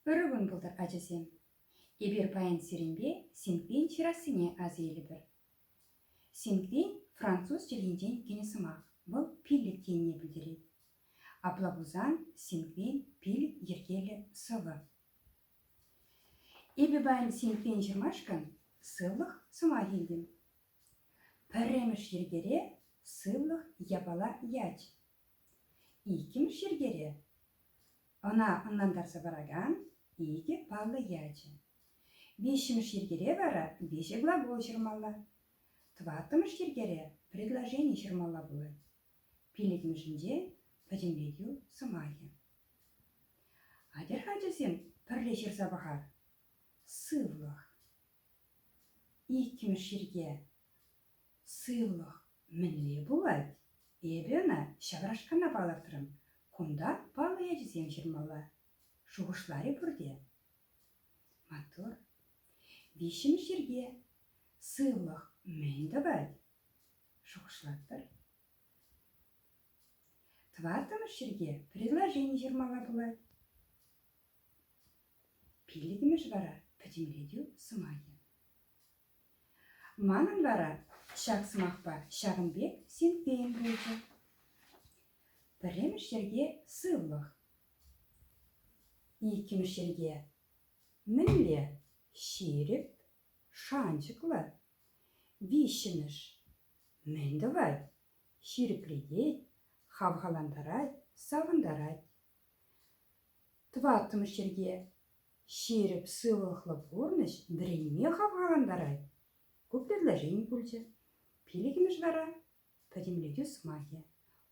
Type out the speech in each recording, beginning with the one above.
Ырӑ кун пултӑр, ачасем! Эпир паян сирӗнпе Синквейн ҫырассине аса илӗпӗр. Синквейн француз чӗлхинчен кӗнӗ сӑмах, вӑл пиллӗк енне пӗлтерет. Апла пулсан Синквейн пилӗк йӗркеллӗ сӑвӑ. Эпӗ паян Синквейн ҫырмашкӑн сывлӑх сӑмах илтӗм. Пӗрремӗш йӗркере сывлӑх япала ять. Иккӗмӗш йӗркере ӑна ӑнлантарса паракан икӗ паллӑ ячӗ. Виҫҫӗмӗш йӗркере вара виҫӗ глагол ҫырмалла. Тӑваттӑмӗш йӗркере предложени ҫырмалла пулать. Пиллӗкмӗшӗнче пӗтӗмлетӳ сӑмахӗ. Атьӑр-ха ачасем пӗрле ҫырса пӑхар. Сывлӑх. Иккӗмӗш йӗрке – сывлӑх мӗнле пулать? Эпӗ ӑна ҫаврашкана палӑртрӑм. Кунта паллӑ ячӗсем ҫырмалла, шухӑшларӗ пурте. Маттур. Виҫҫӗмӗш йӗрке – сывлӑх мӗн тӑвать? Шухӑшлатпӑр. Тӑваттӑмӗш йӗрке – предложени ҫырмалла пулать. Пиллӗкмӗш вара — пӗтӗмлетӳ сӑмахӗ. Манӑн вара ҫак сӑмахпа ҫакӑн пек синккен пулчӗ. Пӗрремӗш йӗрке сывлӑх. Иккӗмӗш йӗрке мӗнле? Ҫирӗп, шанчӑклӑ. Виҫҫӗмӗш мӗн тӑвать? Ҫирӗплетет, хавхалантарать, савӑнтарать. Тӑваттӑмӗш йӗрке ҫирӗп сывлӑхлӑ пурнӑҫ вӗренме хавхалантарать. Ку предложени пулчӗ. Пиллӗкмӗш вара пӗтӗмлетӳ сӑмахӗ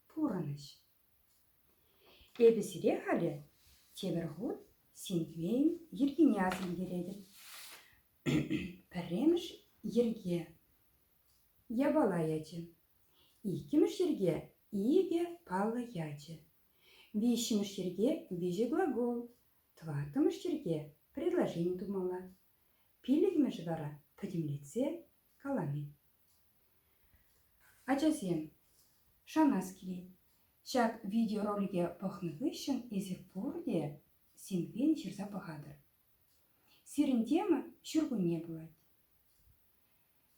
пурӑнӑҫ. Эпӗ сире халӗ тепӗр хут синквейн йӗркине асилтеретӗп. Пӗрремӗш йӗрке япала ячӗ. Иккӗмӗш йӗрке икӗ паллӑ ячӗ. Виҫҫӗмӗш йӗрке – виҫӗ глагол. Тӑваттӑмӗш йӗрке – предложени тумалла. Пиллӗкмӗш вара – пӗтӗмлетсе калани. Ачасем, шанас килет, ҫак видеоролике пӑхнӑ хыҫҫӑн эсир пурте синхрон ҫырса пӑхатӑр. Сирӗн тема ҫуркунне пулать.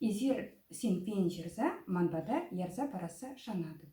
Эсир синхрон ҫырса ман пата ярса парасса шанатӑп.